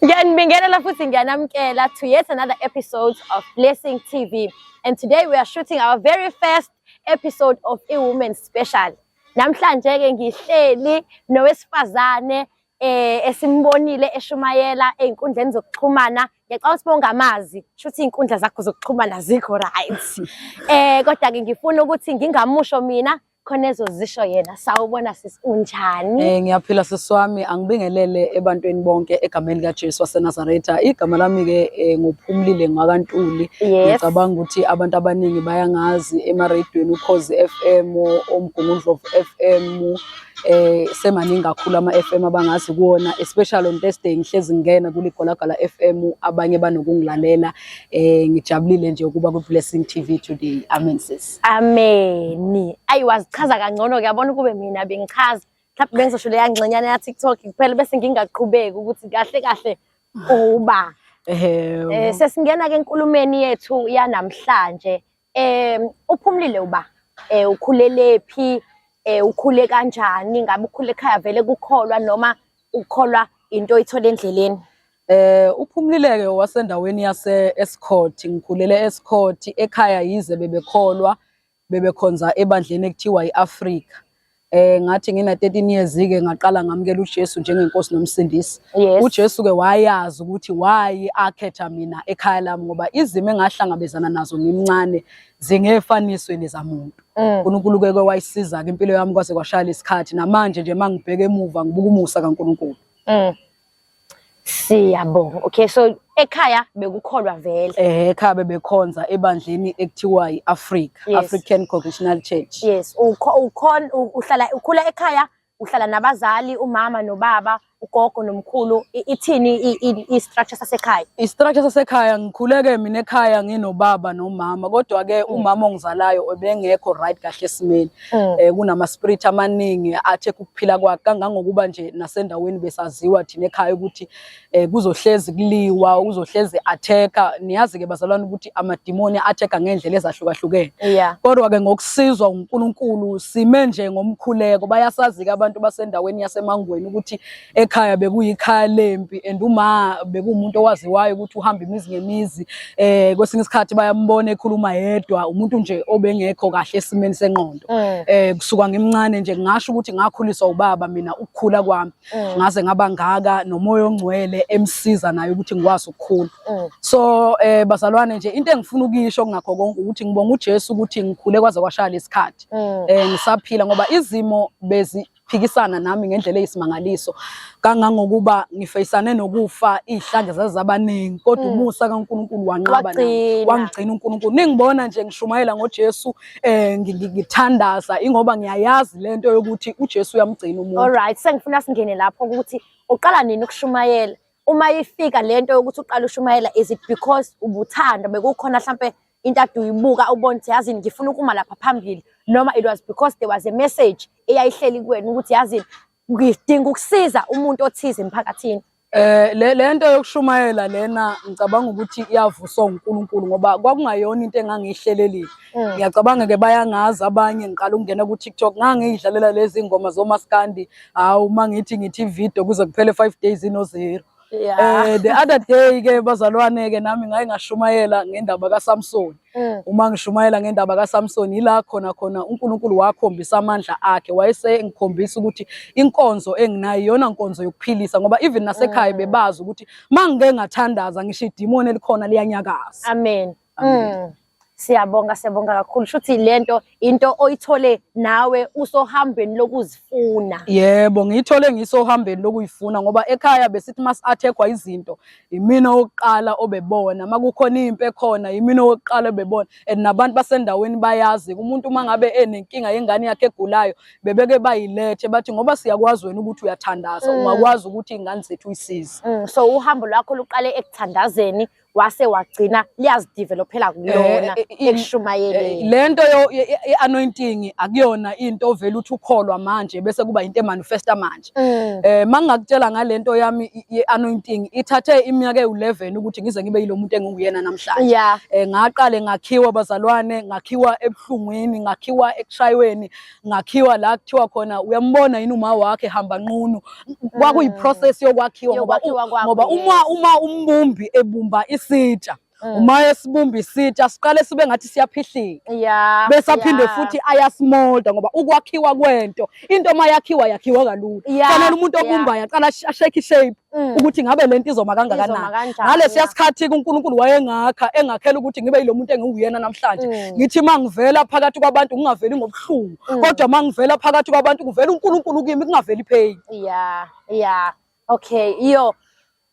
Ngiyanibingelela futhi ngiyanamkela to yet another episode of Blessing TV and today we are shooting our very first episode of a woman special. Namhlanje ke ngihleli nowesifazane eh esimbonile eshumayela einkundleni zokuxhumana ngiyacabanga ukuthi bongamazi shuthi izinkundla zakho zokuxhumana zikho right eh kodwa ke ngifuna ukuthi ngingamusho mina khona ezozisho yena sawubona sisi unjani eh ngiyaphila sisi wami angibingelele ebantwini bonke egameni likaJesu waseNazaretha igama lami ke eh, ngophumlile ngwakantuli ngicabanga ukuthi abantu abaningi bayangazi emaradweni ukhozi FM omgungundlovu FM eh semaningi kakhulu ama FM abangazi kuona especially on Thursday ngihlezi ngena kule golagala FM abanye banokungilalela eh ngijabulile nje ukuba ku Blessing TV today amen sis Ameni. Ayi wazichaza kangcono kuyabona ukube mina bengichaza. Mhlawumbe bengizosho leya ngxenyana ya TikTok kuphela bese ngingaqhubeki ukuthi kahle kahle uba. Eh sesingena ke enkulumeni yethu yanamhlanje. Eh uphumlile uba eh ukhulele phi eh ukhule kanjani ngabe ukhule ekhaya vele kukholwa noma ukukholwa into oyithola endleleni Eh uphumlileke wasendaweni yase Escort ngikhulele Escort ekhaya yize bebekholwa bebekhonza ebandleni ekuthiwa iAfrika. Eh ngathi ngina 13 years ke ngaqala ngamukela uJesu njengenkosi nomsindisi. Yes. UJesu ke wayazi ukuthi why akhetha mina ekhaya lami ngoba izimo engahlangabezana nazo ngimncane zingefaniswe nezamuntu. Mm. uNkulunkulu ke ke wayisiza ke impilo yami kwaze kwashaya lesikhathi namanje nje mangibheka emuva ngibuka umusa kaNkulunkulu. Mm. Siyabonga. Okay, so ekhaya bekukholwa vele. Eh ekhaya bebekhonza ebandleni ekuthiwa iAfrica, yes. African Congregational Church. Yes, ukhona uhlala ukhula ekhaya, uhlala nabazali, umama nobaba, ugogo nomkhulu. Ithini istructure sasekhaya? Istructure sasekhaya ngikhuleke mina ekhaya nginobaba nomama, kodwa ke mm. umama ongizalayo obengekho right kahle esimeni. mm. eh kunama spirit amaningi athe ukuphila kwakhe kangangokuba nje nasendaweni besaziwa thina ekhaya ukuthi eh kuzohlezi kuliwa uzohlezi attacker niyazi ke bazalwane ukuthi amadimoni attacker ngendlela ezahlukahlukene yeah. kodwa ke ngokusizwa uNkulunkulu sime nje ngomkhuleko bayasazi ke abantu basendaweni yasemangweni ukuthi ekhaya bekuyikhaya lempi and uma bekuwumuntu owaziwayo ukuthi uhamba imizi ngemizi eh kwesinye isikhathi bayambona ekhuluma yedwa umuntu nje obengekho kahle esimeni senqondo mm. eh kusuka ngimncane nje ngasho ukuthi ngakhuliswa ubaba mina ukukhula kwami mm. ngaze ngaba ngaka nomoya ongcwele emsiza naye ukuthi ngikwazi ukukhula mm. so eh bazalwane nje into engifuna ukuyisho kungakho konke ukuthi ngibonga uJesu ukuthi ngikhule kwaze kwashaya lesikhathi eh ngisaphila ngoba izimo bezi phikisana nami ngendlela eyisimangaliso kangangokuba ngifeyisane nokufa izihlandla zazabaningi kodwa mm. umusa kaNkuluNkulu wanqaba wangigcina uNkuluNkulu ningibona nje ngishumayela ngoJesu eh ngithandaza ingoba ngiyayazi lento yokuthi uJesu uyamgcina umuntu all right sengifuna singene lapho ukuthi uqala nini ukushumayela uma ifika lento yokuthi uqala ushumayela is it because ubuthanda bekukhona mhlambe into ade uyibuka ubona ukuthi yazini ngifuna ukuma lapha phambili noma it was because there was a message eyayihleli kuwena ukuthi yazini ngidinga ukusiza umuntu othize emphakathini Eh le lento yokushumayela lena ngicabanga ukuthi iyavusa uNkulunkulu ngoba kwakungayona into engangihlelelile. Mm. Ngiyacabanga ke bayangazi abanye ngiqala ukungena ku TikTok ngangiyidlalela lezi ngoma zomaskandi hawu mangithi ngithi video kuze kuphele 5 days ino zero. Yeah. Eh the other day ke bazalwane ke nami ngaye ngashumayela ngendaba kaSamson. Mm. Uma ngishumayela ngendaba kaSamson yila khona khona uNkulunkulu wakhombisa amandla akhe wayese ngikhombisa ukuthi inkonzo enginayo yona nkonzo yokuphilisa ngoba even nasekhaya mm. bebazi ukuthi mangike ngathandaza ngisho idimoni elikhona liyanyakaza. Amen. Amen. Mm. Siyabonga siyabonga kakhulu shuthi lento into oyithole nawe usohambeni lokuzifuna. Yebo ngiyithole ngisohambeni lokuyifuna ngoba ekhaya besithi mas athekwa izinto imina oqala obebona makukhona impi ekhona imina oqala obebona and nabantu basendaweni bayazi umuntu uma ngabe enenkinga yengane yakhe egulayo bebeke bayilethe bathi ngoba siyakwazi wena ukuthi uyathandaza mm. ungakwazi ukuthi ingane zethu uyisize. Mm, so uhambo lwakho luqale ekuthandazeni wase wagcina liyazidevelophela kulona eh, eh, ekushumayeleni eh, lento ye-anointing akuyona into ovele uthi ukholwa manje bese kuba into emanifesta manje mm. eh mangakutshela ngalento yami ye-anointing ithathe iminyaka ewu-11 ukuthi ngize ngibe yilo muntu enginguyena namhlanje eh ngaqale ngakhiwa bazalwane ngakhiwa ebuhlungwini ngakhiwa ekushayweni ngakhiwa la kuthiwa khona uyambona yini uma wakhe hamba nqunu kwakuyi mm. process yokwakhiwa ngoba ngoba uma uma umbumbi ebumba isitsha mm. uma esibumba isitsha siqale sibe ngathi siyaphihlika yeah, bese aphinde yeah. futhi ayasimolda ngoba ukwakhiwa kwento into uma yakhiwa yakhiwa kalula yeah, fanele umuntu obumbayo yeah. aqala ashake shape Mm. ukuthi ngabe lento izoma kangakanani ngalesiya sikhathi kuNkulunkulu wayengakha engakhela ukuthi ngibe yilo muntu engiwuyena namhlanje mm. ngithi mangivela phakathi kwabantu ngingaveli ngobuhlungu mm. kodwa mangivela phakathi kwabantu kuvela uNkulunkulu kimi kungaveli pain yeah yeah okay iyo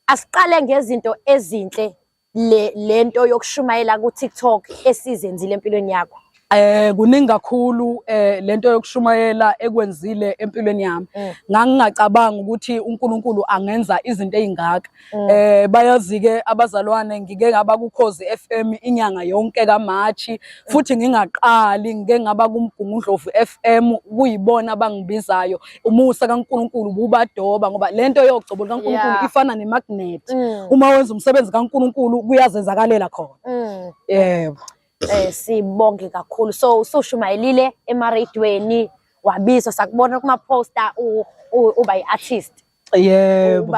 asiqale ngezinto ezinhle le lento yokushumayela ku TikTok esizenzile empilweni yakho? Eh kuningi kakhulu eh lento yokushumayela ekwenzile empilweni yami. Mm. Ngangingacabanga ukuthi uNkulunkulu angenza izinto ezingaka. Mm. Eh bayazi ke abazalwane ngike ngaba kukhozi FM inyanga yonke kaMarch mm. futhi ngingaqali ngike ngaba kumgungundlovu FM kuyibona abangibizayo umusa kaNkulunkulu bubadoba ngoba lento yogcobo likaNkulunkulu yeah. ifana nemagnet mm. uma wenza umsebenzi kaNkulunkulu kuyazenzakalela khona mm. yebo eh sibonge kakhulu so usoshumayelile emaradweni wabizwa sakubona kuma poster uba iartist yebo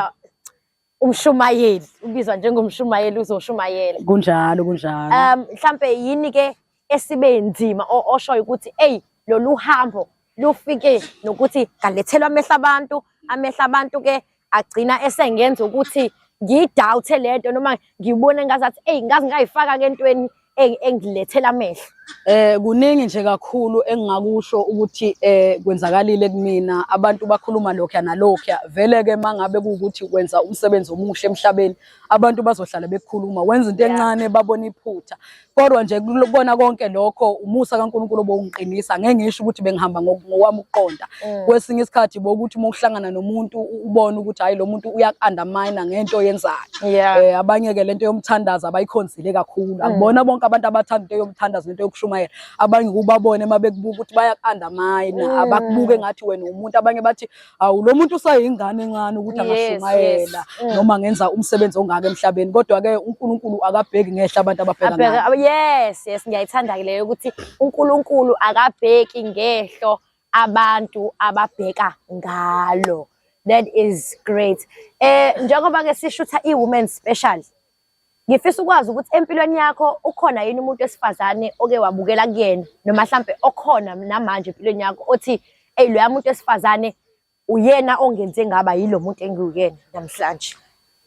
umshumayeli ubizwa njengomshumayeli uzoshumayela kunjalo kunjalo um mhlambe yini ke esibe nzima oshoyo ukuthi eyi lolu hambo lufike nokuthi ngalethelwa amehla abantu amehla abantu ke agcina esengenza ukuthi ngiyidawuthe lento noma ngibone ngazathi eyi ngazi ngayifaka ke entweni engilethela amehlo eh kuningi nje kakhulu engingakusho ukuthi eh kwenzakalile kumina abantu bakhuluma lokho nalokho vele ke mangabe ukuthi wenza umsebenzi omuhle emhlabeni abantu bazohlala bekukhuluma wenza into encane babona iphutha kodwa nje kubona konke lokho umusa kaNkuluNkulu obongiqinisa ngeke ngisho ukuthi bengihamba ngokwami ukuqonda mm. kwesinye isikhathi bokuthi uma uhlangana nomuntu ubone ukuthi hayi lo muntu uyakundermine ngento yenzayo eh abanye ke lento yomthandazo abayikhonzi bagxile kakhulu mm. akubona bonke abantu abathanda into yomthandazo into yokushumayela abanye kubabone uma bekubuka ukuthi bayaku-undermine mm. abakubuke ngathi wena umuntu abanye bathi awu lo muntu usayingane encane ukuthi angashumayela mm. noma ngenza umsebenzi ongaka emhlabeni kodwa-ke unkulunkulu akabheki ngehla abantu ababheka yes yes ngiyayithanda-ke leyo ukuthi unkulunkulu akabheki ngehlo abantu ababheka ngalo that is great eh njengoba ke sishutha i women special Ngifisa ukwazi ukuthi empilweni yakho ukhona yini umuntu wesifazane oke wabukela kuyena noma mhlampe okhona namanje empilweni yakho othi eyi loya muntu wesifazane uyena ongenze ngaba yilo muntu engiwuyena namhlanje.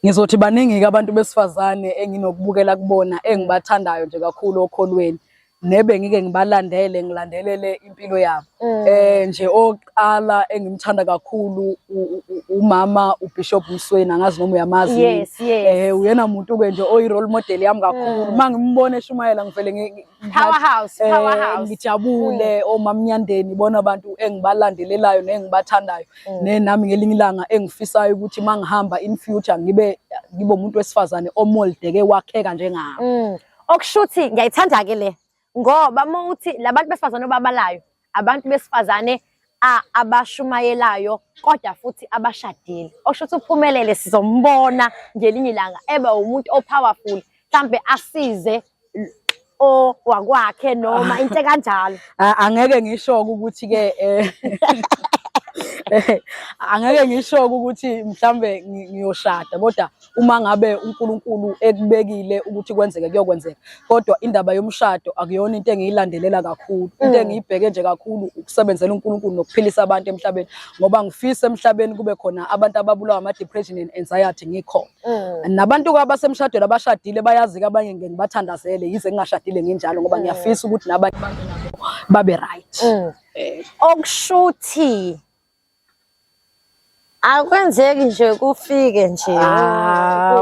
Ngizothi baningi-ke abantu besifazane enginokubukela kubona engibathandayo nje kakhulu okholweni. nebe ngike ngibalandele ngilandelele impilo yabo mm. eh nje oqala engimthanda kakhulu umama uBishop Msweni angazi noma uyamazi yes, yes. eh uyena umuntu ke nje oyi role model yami kakhulu mm. mangimbona eshumayela ngivele ngi powerhouse eh, powerhouse ngijabule mm. omamnyandeni bona abantu engibalandelelayo nengibathandayo mm. ne nami ngelinye ilanga engifisayo ukuthi mangihamba in future ngibe ngibe umuntu wesifazane omoldeke wakheka njengami mm. okushuthi ngiyayithanda ke le ngoba uma uthi labantu besifazane obabalayo abantu besifazane abashumayelayo kodwa futhi abashadile okusho ukuthi uphumelele sizombona ngelinye ilanga eba umuntu o-powerful mhlambe asize o wakwakhe noma into kanjalo angeke ngisho ukuthi ke eh, angeke ngisho ukuthi mhlambe ngiyoshada kodwa uma ngabe uNkulunkulu ekubekile ukuthi kwenzeke kuyokwenzeka kodwa indaba yomshado akuyona into engiyilandelela kakhulu into mm. engiyibheke nje kakhulu ukusebenzela uNkulunkulu nokuphilisa abantu emhlabeni ngoba ngifisa emhlabeni kube khona abantu ababulawa ama depression and anxiety ngikhona mm. nabantu abasemshadweni abashadile bayazi ke abanye ngeke ngibathandazele yize ngingashadile nginjalo ngoba mm. ngiyafisa ukuthi nabanye babe right okushuthi Akwenzeki nje kufike nje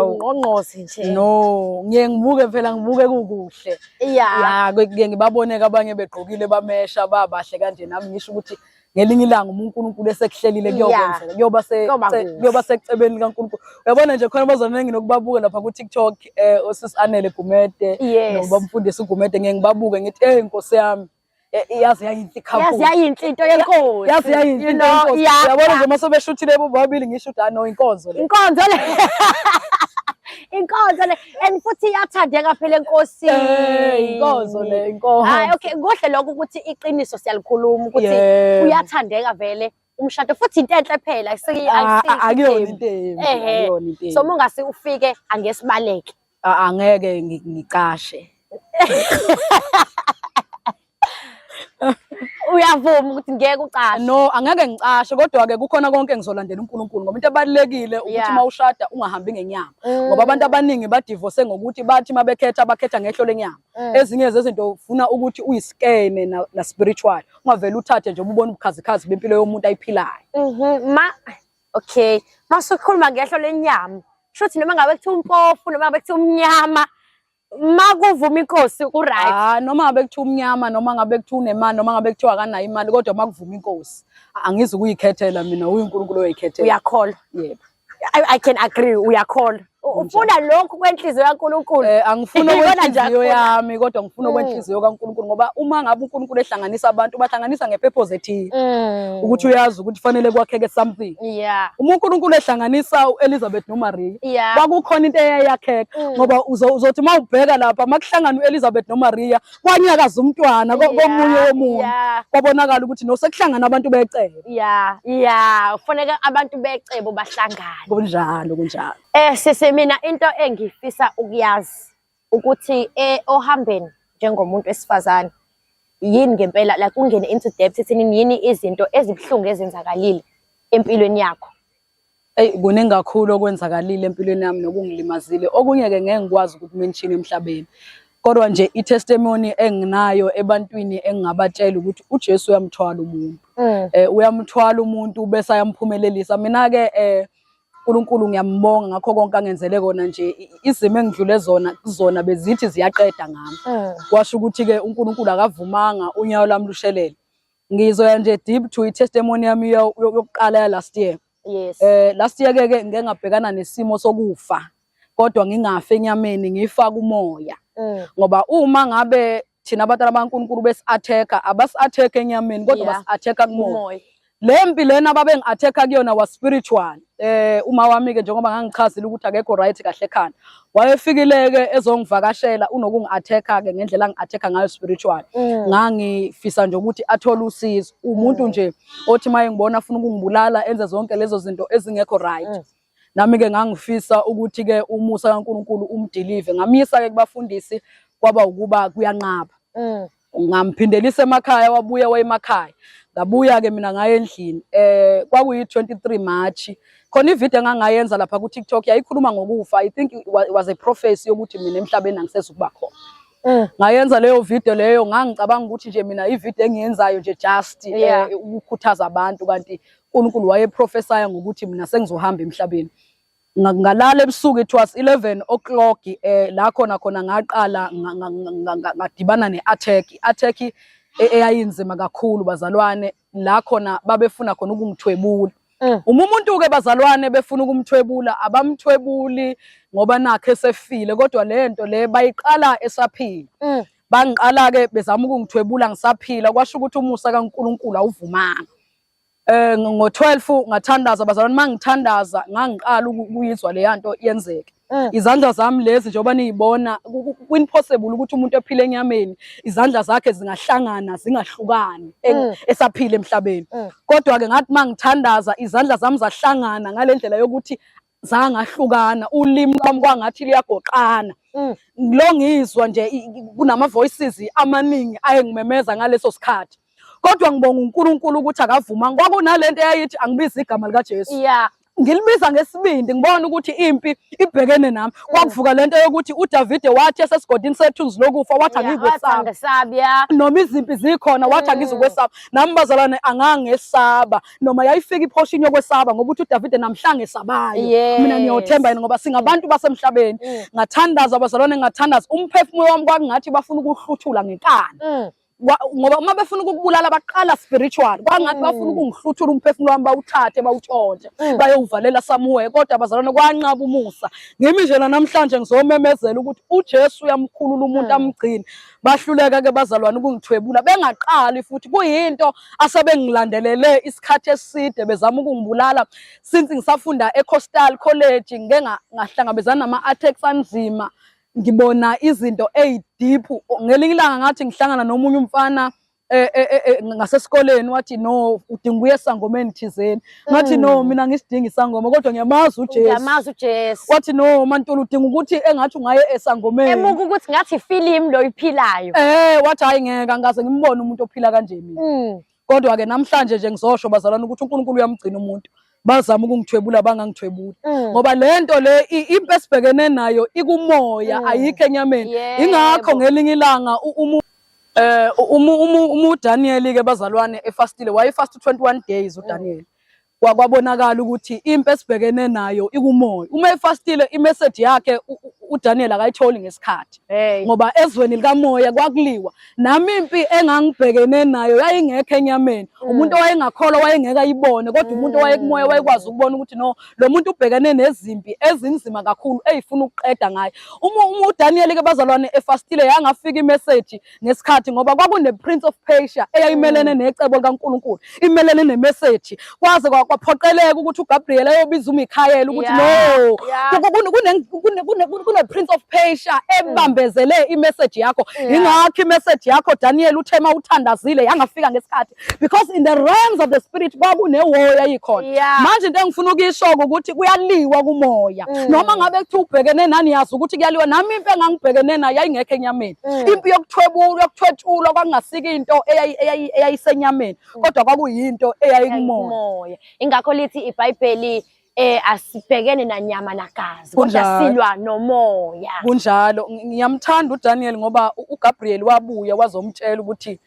ungqongqozi nje. No, ngiye ngibuke phela ngibuke kukuhle. Yeah. Yeah, kuye ngibaboneke abanye begqokile bamesha babahle kanje nami ngisho ukuthi ngelinye ilanga uma uNkulunkulu esekuhlelile kuyokwenzeka kuyoba kuyoba secebeni likaNkulunkulu uyabona nje khona bazona nginokubabuka lapha ku TikTok eh osisi Anele Gumede nobamfundisi uGumede ngeke ngibabuke ngithi hey inkosi yami yazi yayinhle yazi yayinhle into yenkosi yazi yayinhle into yenkosi uyabona nje uma sobeshuthile bobabili ngisho ukuthi ano inkonzo le inkonzo le inkonzo le and futhi iyathandeka phela enkosi inkonzo le inkonzo hayi okay kuhle lokho ukuthi iqiniso siyalikhuluma ukuthi uyathandeka vele umshado futhi into enhle phela ah, ah, akuyona into embi so mongase ufike angesibaleke ah, angeke ngicashe uyavuma ukuthi ngeke ucashe no angeke ngicashe kodwa ke kukhona konke ngizolandela uNkulunkulu ngoba into ebalekile ukuthi uma ushada ungahambi ngenyama mm. ngoba abantu abaningi badivorce ngokuthi bathi mabekhetha bakhetha ngehlo lenyama mm. ezinye zezinto ufuna ukuthi uyiskeme na spiritual ungavele uthathe nje ububona ubukhazikhazi bempilo yomuntu ayiphilayo mhm ma okay masukhuluma ngehlo lenyama shothi noma ngabe kuthiwa umpofu noma ngabe kuthiwa umnyama makuvuma inkosi uright ah noma ngabe kuthiwa umnyama noma ngabe kuthiwa unemali noma ngabe kuthiwa akanayo imali kodwa makuvuma inkosi angizi ukuyikhethela mina uyinkulunkulu oyikhethela uyakholwa yebo I, I can agree uyakholwa ufuna lokhu kwenhliziyo kaNkulunkulu eh angifuni okwenhliziyo yami kodwa ngifuna mm. okwenhliziyo kaNkulunkulu ngoba uma ngabe uNkulunkulu ehlanganisa abantu bahlanganisa ngepurpose ethile mm. ukuthi uyazi ukuthi fanele kwakheke something yeah uma uNkulunkulu ehlanganisa uElizabeth noMaria yeah. kwakukhona into eyayakheka mm. ngoba uzothi mawubheka lapha makuhlangana uElizabeth noMaria kwanyakaza umntwana komunye womuntu kwabonakala ukuthi nosekuhlangana abantu becebo ya ya kufanele abantu becebo bahlangane kunjalo kunjalo eh sisi mina into engifisa ukuyazi ukuthi eh ohambeni njengomuntu wesifazane yini ngempela like ungene into depth ethini yini izinto ezibuhlungu ezenzakalile empilweni yakho Eyi kuningi kakhulu okwenzakalile empilweni yami nokungilimazile. Okunye-ke ngeke ngikwazi ukuthi menshini emhlabeni. Kodwa nje i-testimony enginayo ebantwini engingabatshela ukuthi uJesu uyamthwala umuntu. Mm. Eh uyamthwala umuntu bese ayamphumelelisa. Mina-ke eh uNkulunkulu ngiyambonga ngakho konke angenzele kona nje izimo engidlule zona kuzona bezithi ziyaqeda ngami. Mm. Kwasho ukuthi-ke uNkulunkulu akavumanga unyawo lami lushelele. Ngizoya nje deep to i-testimony yami yokuqala ya last year. Yes. Eh last year ke ke ngike ngabhekana nesimo sokufa kodwa ngingafe enyameni ngifa kumoya. Mm. Ngoba uma ngabe thina abantwana baNkulunkulu besi-attack abasi-attack enyameni kodwa yeah. basi-attack kumoya. Le mpi lena babengi-attack kuyona was spiritual. Eh uma wami ke njengoba ngangichazile ukuthi akekho right kahle ekhanda. wayefikile-ke ezongivakashela unokungi-attack-a-ke ngendlela angi-attack-a ngayo spiritual mm. ngangifisa nje ukuthi athole usizo umuntu mm. nje othi uma engibona afuna ukungibulala enze zonke lezo zinto ezingekho right mm. nami-ke ngangifisa ukuthi-ke umusa kankulunkulu umdilive ngamyisa-ke kubafundisi kwaba ukuba kuyanqaba ngamphindelisa emakhaya wabuya wayemakhaya ngabuya-ke mina ngaye endlini um kwakuyi-twenty three march khona ividiyo engangayenza lapha ku-tiktok yayikhuluma ngokufa i think was a prophecy yokuthi mina emhlabeni angisezukuba khona eh. ngayenza leyo video leyo ngangicabanga ukuthi nje mina ivideo engiyenzayo nje just eh, ukukhuthaza abantu kanti uNkulunkulu wayeprofesaya ngokuthi mina sengizohamba emhlabeni ngalala ebusuku it was 11 o'clock eh la khona khona ngaqala ngadibana ne-attack i-attack e, eyayinzima kakhulu bazalwane la khona babefuna khona ukungithwebula mm. uma umuntu-ke bazalwane befuna ukumthwebula abamthwebuli ngoba nakhe esefile kodwa le nto le bayiqala esaphila mm. bangiqala-ke bezama ukungithwebula ngisaphila kwasho ukuthi umusa kankulunkulu awuvumanga Eh ngo-12 ngathandaza bazalwane mangithandaza ngangiqala ukuyizwa leya nto yenzeke. Mm. Izandla zami lezi njengoba niyibona kwimpossible ukuthi umuntu ephile enyameni izandla zakhe zingahlangana zingahlukani mm. esaphile emhlabeni. Mm. Kodwa ke ngathi mangithandaza izandla zami zahlangana ngalendlela yokuthi zangahlukana ulimi lwami kwangathi liyagoqana mm. lo ngizwa nje kunama voices amaningi ayengimemeza ngaleso sikhathi kodwa ngibonga uNkulunkulu ukuthi akavuma kwakunalento eyayithi angibiza igama lika Jesu yeah ngilibiza ngesibindi ngibona ukuthi impi ibhekene nami mm. kwakuvuka lento yokuthi uDavide wathi esesigodini sethunzi lokufa wathi angikwesaba noma izimpi zikhona wathi mm. angizokwesaba nami bazalwane angangesaba noma yayifika iphoshini yokwesaba ngoba uthi uDavide namhlanje esabayo mina ngiyothemba yena ngoba singabantu basemhlabeni mm. ngathandaza abazalwane ngathandaza umphefumulo wami kwakungathi bafuna ukuhluthula ngenkani mm. ngoba uma befuna ukukubulala baqala spiritual kwangathi mm. bafuna ukungihluthula umphefumulo wami bawuthathe bawutshontshe mm. bayowuvalela samuwe kodwa bazalwane kwanqaba umusa ngimi nje namhlanje ngizomemezela ukuthi uJesu uyamkhulula umuntu mm. amgcine bahluleka ke bazalwane ukungithwebula bengaqali futhi kuyinto asebengilandelele isikhathi eside bezama ukungibulala since ngisafunda eCoastal College ngike ngahlangabezana nama-attacks anzima ngibona izinto eyi-deep ngelinye ilanga ngathi ngihlangana nomunye umfana eh, eh, eh, ngasesikoleni wathi no udinga uye esangomeni thizeni ngathi hmm. no mina ngisidingi isangoma kodwa ngiyamazi uJesu ngiyamazi uJesu wathi no mantulu udinga ukuthi engathi ungaye esangomeni emuka ukuthi ngathi film lo iphilayo eh wathi hayi ngeke angaze ngimbone umuntu ophila kanje mina hmm. kodwa ke namhlanje nje ngizosho bazalwana ukuthi uNkulunkulu uyamgcina umuntu bazama ukungithwebula bangangithwebuli mm. ngoba lento le impi esibhekene nayo ikumoya mm. ayikho enyameni ingakho ngelinye ilanga Eh uma uma uDaniel ke bazalwane efastile wayefast 21 days uDaniel. Kwakwabonakala ukuthi impi esibhekene nayo ikumoya. Uma efastile imessage yakhe uDaniel akayitholi ngesikhathi. Ngoba ezweni likamoya kwakuliwa. Nami impi engangibhekene nayo yayingekho enyameni. Mm. Umuntu owayengakholwa wayengeke ayibone kodwa umuntu mm. owayekumoya wayekwazi ukubona ukuthi no lo muntu ubhekene nezimpi ezinzima kakhulu eyifuna ukuqeda ngayo uma uDaniel ke bazalwane efastile yangafika imeseji ngesikhathi ngoba kwakune Prince of Persia eyayimelene mm. necebo likaNkulunkulu imelene nemeseji kwaze kwaphoqeleka ukuthi uGabriel ayobiza uMichael ukuthi no kune Prince of Persia ebambezele imeseji yakho ingakho imeseji yakho Daniel uthema uthandazile yangafika ngesikhathi because in the realms of the spirit kwakunewoya ayikhona yeah. manje into engifuna ukuyishoka ukuthi kuyaliwa kumoya mm. noma ngabe kuthiwa ubhekene nani yazi ukuthi kuyaliwa nami impi engangibhekene nayo yayingekho enyameni mm. impi yokuthwebulwa yokuthwetshulwa kwakungasika into eyayisenyameni mm. kodwa kwakuyinto eyayikumoya ingakho lithi ibhayibheli eh asibhekene nanyama nagazi kodwa silwa nomoya kunjalo ngiyamthanda uDaniel ngoba uGabriel wabuya wazomtshela ukuthi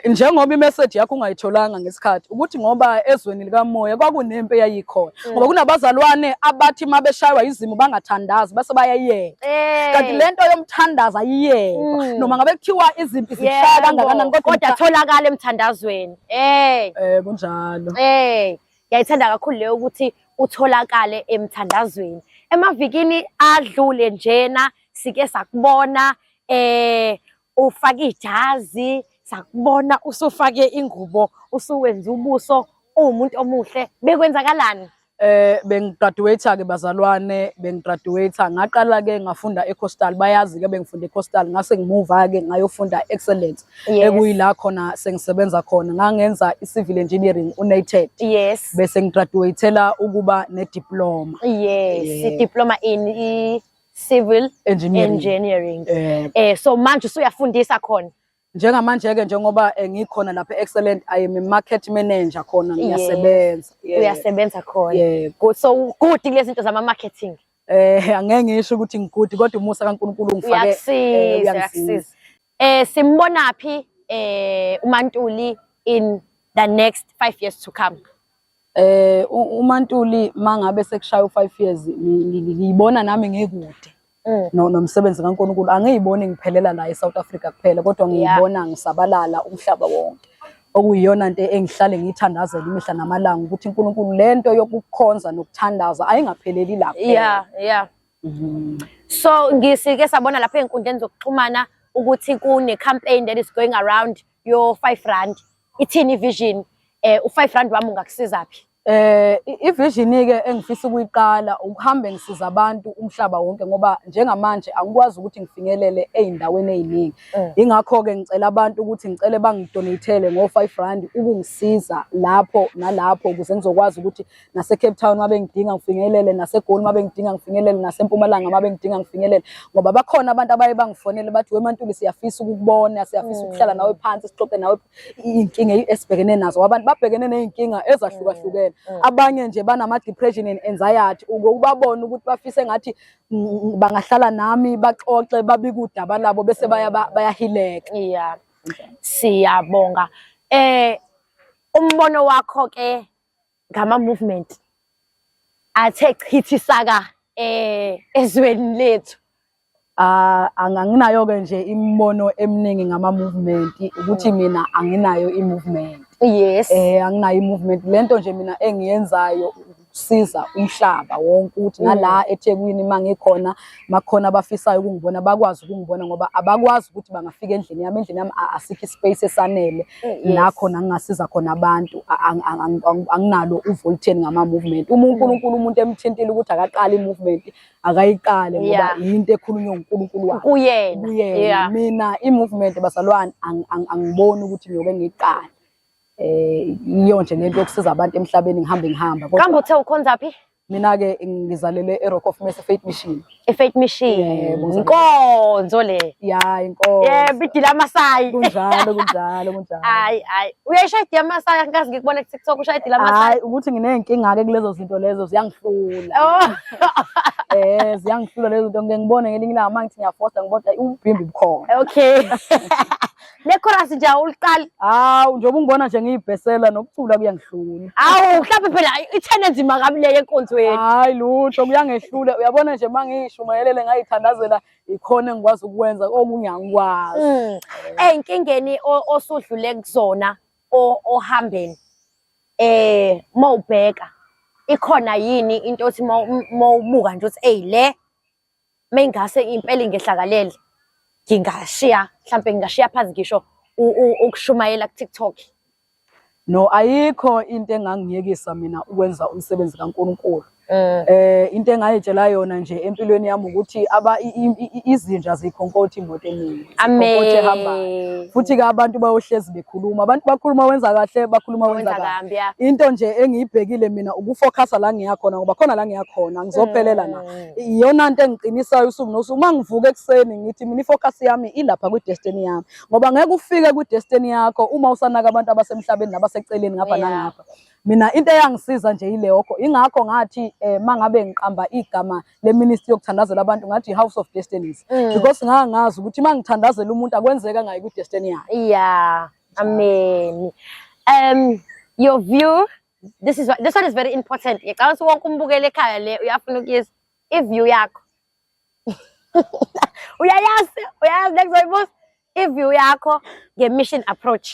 njengoba imeseji yakho ungayitholanga ngesikhathi ukuthi ngoba ezweni likamoya kwakunempi eyayikhona mm. ngoba kunabazalwane abathi uma beshaywa izimo bangathandazi base bayayeka eh. kanti le nto yomthandazo ayiyekwa mm. noma ngabe kuthiwa izimpi zishaya kangakanani kodwa atholakala emthandazweni ey eh kunjalo ey ngiyayithanda kakhulu leyo ukuthi utholakale emthandazweni emavikini adlule njena sike sakubona eh ufake ijazi sakubona usufake ingubo usuwenza ubuso uwumuntu omuhle bekwenzakalani eh bengigraduate ke bazalwane bengigraduate ngaqala ke ngafunda eCoastal bayazi ke bengifunda eCoastal ngase ngimuva ke ngayofunda excellence ekuyila khona sengisebenza khona ngangenza icivil engineering uNated yes bese ngigraduatela ukuba ne diploma yes, yes. diploma in civil engineering, engineering. Eh, eh so manje usuyafundisa khona njengamanje ke njengoba eh, ngikhona lapha excellent i am a market manager khona ngiyasebenza yeah. uyasebenza khona yeah. good so good lezinto zama marketing eh angeke ngisho ukuthi ngigudi kodwa umusa kaNkuluNkulu ungifake uyasiza eh, uyasiza Eh simbona phi eh uMantuli in the next 5 years to come? Eh uMantuli mangabe sekushaya u5 years ngiyibona nami ngikude. Mm. no nomsebenzi kaNkulunkulu angiyiboni ngiphelela la eSouth Africa kuphela kodwa ngiyibona ngisabalala umhlaba wonke okuyiyona into engihlale ngiyithandazela imihla namalanga ukuthi uNkulunkulu lento yokukhonza nokuthandaza ayingapheleli lapha yeah yeah Mm-hmm. So ngisike sabona lapha ezinkundleni zokuxhumana ukuthi kune campaign that is going around your 5 rand ithini vision eh u5 rand wami ungakusiza phi eh ivision ke engifisa ukuyiqala ukuhambe ngisiza abantu umhlaba wonke ngoba njengamanje angikwazi ukuthi ngifinyelele ezindaweni eziningi mm. ingakho ke ngicela abantu ukuthi ngicele bangidonatele ngo5 rand ukungisiza lapho nalapho ukuze ngizokwazi ukuthi naseCape Town uma bengidinga ngifinyelele naseGoli uma bengidinga ngifinyelele naseMpumalanga uma bengidinga ngifinyelele ngoba bakhona abantu abaye bangifonele bathi weMantuli siyafisa ukukubona siyafisa mm. ukuhlala nawe phansi sixoxe nawe inkinga esibhekene nazo abantu babhekene nezinkinga ezahlukahlukene mm. Mm. abanye nje banama depression and anxiety ukubabona ukuthi bafise ngathi bangahlala nami baxoxe babikudaba labo bese baya bayahileka yeah siyabonga eh umbono wakho ke ngama-movement athe chithi saka eh ezweni lethu ah anginayo-ke nje imibono eminingi ngama-movement ukuthi mina anginayo i-movement yes eh anginayo i-movement le nto nje mina engiyenzayo ukusiza umhlaba wonke ukuthi nala mm. eThekwini mangikhona makhona abafisayo ukungibona bakwazi ukungibona ngoba abakwazi ukuthi bangafika endlini yami endlini yami asikho ispace esanele eh, la khona ngingasiza khona abantu anginalo uvolteni ngama-movement uma unkulunkulu umuntu emthintile ukuthi akaqale i-movement akayiqale ngoba yinto ekhulunywa ngunkulunkulu wakhe kuyena mina i-movement basalwane angiboni ukuthi ngiyoke ngiyiqale um eh, yiyo nje lento yokusiza abantu emhlabeni ngihambe ngihamba kambe uthe ukhonza phi Mina-ke ngizalelwe e-Rock of Mercy Faith Mission. I-Faith Mission. Yebo, ngizalelwe- Inkonzo le. Ya, inkosi. Yebo, idila amasayi. Kunjalo, kunjalo, kunjalo. Hayi, hayi. Uyayishaya idila amasayi, angikaze ngikubone ku-TikTok ushaya idila amasayi. Hayi, ukuthi nginey'nkinga-ke kulezo zinto lezo ziyangihlula. Oh. Eh, ziyangihlula lezo zinto. Ngike ngibone ngelinye ilanga uma ngithi ngiyafosta ngibona ukuthi ayi, ububhimbi bukhona. Okay. lekhorasi nje awuliqali hawu njengoba ungibona nje ngiyibhesela nokucula kuyangihlula hawu mhlawumbe phela ithene enzima kabi leyo enkonzweni hayi lutho kuyangehlula uyabona nje uma ngishumayelele ngayithandazela ikhona engikwazi ukwenza okungiyangikwazi mm. eyinkingeni osudlule kuzona ohambeni eh mawubheka ikhona yini into othi mawubuka nje ukuthi eyi le mengase impela ingehlakalele ngingashiya mhlambe ngingashiya phansi ngisho ukushumayela ku TikTok no ayikho into engangiyekisa mina ukwenza umsebenzi kaNkuluNkulu mm. eh into engayitshela yona nje empilweni yami ukuthi aba izinja zikhonkothi imoto eningi ikhonkothi ehambayo futhi ke abantu bayohlezi bekhuluma abantu bakhuluma wenza kahle bakhuluma wenza kabi into nje engiyibhekile mina ukufocusa la ngiyakhona ngoba khona la ngiyakhona ngizophelela na mm. iyona nto engiqinisayo usuku nosuku uma ngivuka ekuseni ngithi mina ifocus yami ilapha kwi-destiny yami ngoba ngeke ufike kwi-destiny yakho uma usanaka abantu abasemhlabeni nabaseceleni ngapha nangapha mina into eyangisiza nje yileyokho ingakho ngathi um eh, ma ngabe ngiqamba igama leministry yokuthandazela abantu ngathi i-house of destinies mm. because ngangazi ukuthi uma ngithandazela umuntu akwenzeka ngayo kwi-destiny yakhe ya ameni um your view this is this one is very important ngicabanga ukuthi wonke umbukele ekhaya le uyafuna ukuyizwa iview yakho uyayazi uyayazi next one boss iview yakho ngemission approach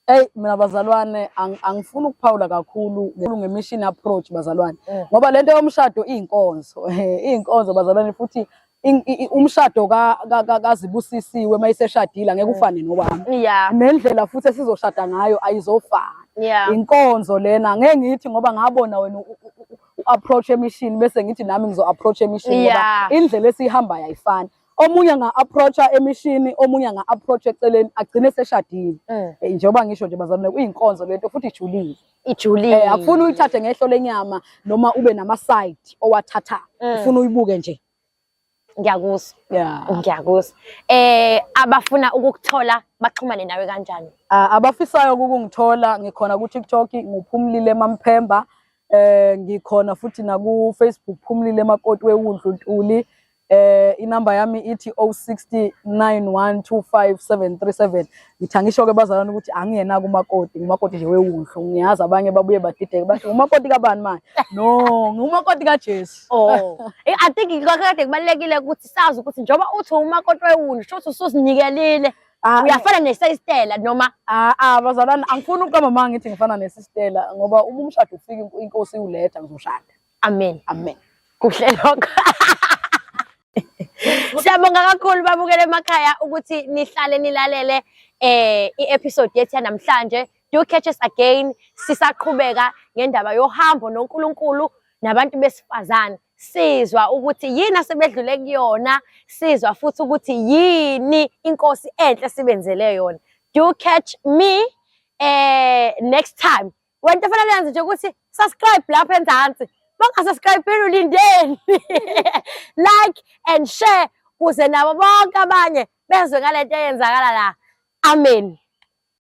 Hey mina bazalwane angifuni ukuphawula kakhulu ngemission approach bazalwane mm. ngoba lento yomshado izinkonzo izinkonzo bazalwane futhi umshado kazibusisiwe uma iseshadile angeke mm. ufane nowami nendlela futhi esizoshada ngayo ayizofana inkonzo lena ngeke ngithi ngoba ngabona wena u-approach emishini bese ngithi nami ngizo-approach emishini ngoba indlela esiyihambayo ayifani omunye nga-approacha emishini omunye nga-approach eceleni agcine seshadile mm. eh, njengoba ngisho nje bazalwane kuyinkonzo lento futhi ijulile ijulile eh akufuni uyithathe ngehlo lenyama noma ube nama side owathatha mm. ufuna uyibuke nje ngiyakuzwa yeah ngiyakuzwa eh abafuna ukukuthola baxhumane nawe kanjani ah, abafisayo ukungithola ngikhona ku TikTok nguphumlile mamphemba eh ngikhona futhi na ku Facebook phumlile makoti wewundlu ntuli eh inamba yami ithi 0691257337 ngithangisho ke bazalwane ukuthi angiyena kumakoti ngumakoti nje wewunhlu ngiyazi abanye babuye badideke basho ngumakoti kabani manje no ngumakoti kaJesu oh eh, i think ikakade kubalekile ukuthi sazi ukuthi njoba uthi umakoti wewunhlu shothi ususinikelile Ah, uyafana nesistela noma ah, ah bazalwane angifuni ukuqamba manga ngithi ngifana nesistela ngoba uma umshado ufika inkosi iwuletha ngizoshada amen amen kuhle lokho Siyabonga kakhulu babukele emakhaya ukuthi nihlale nilalele eh i-episode yethu namhlanje do catch us again sisaqhubeka ngendaba yohambo noNkulunkulu nabantu besifazane sizwa ukuthi yini asebedlule kuyona sizwa futhi ukuthi yini inkosi enhle sibenzele yona do catch me eh next time Wento fanele yenze nje ukuthi subscribe lapha enzansi. Bangasubscribe ulindeni. Like and share kuze nabo bonke abanye bezwe ngalento eyenzakala la. Amen.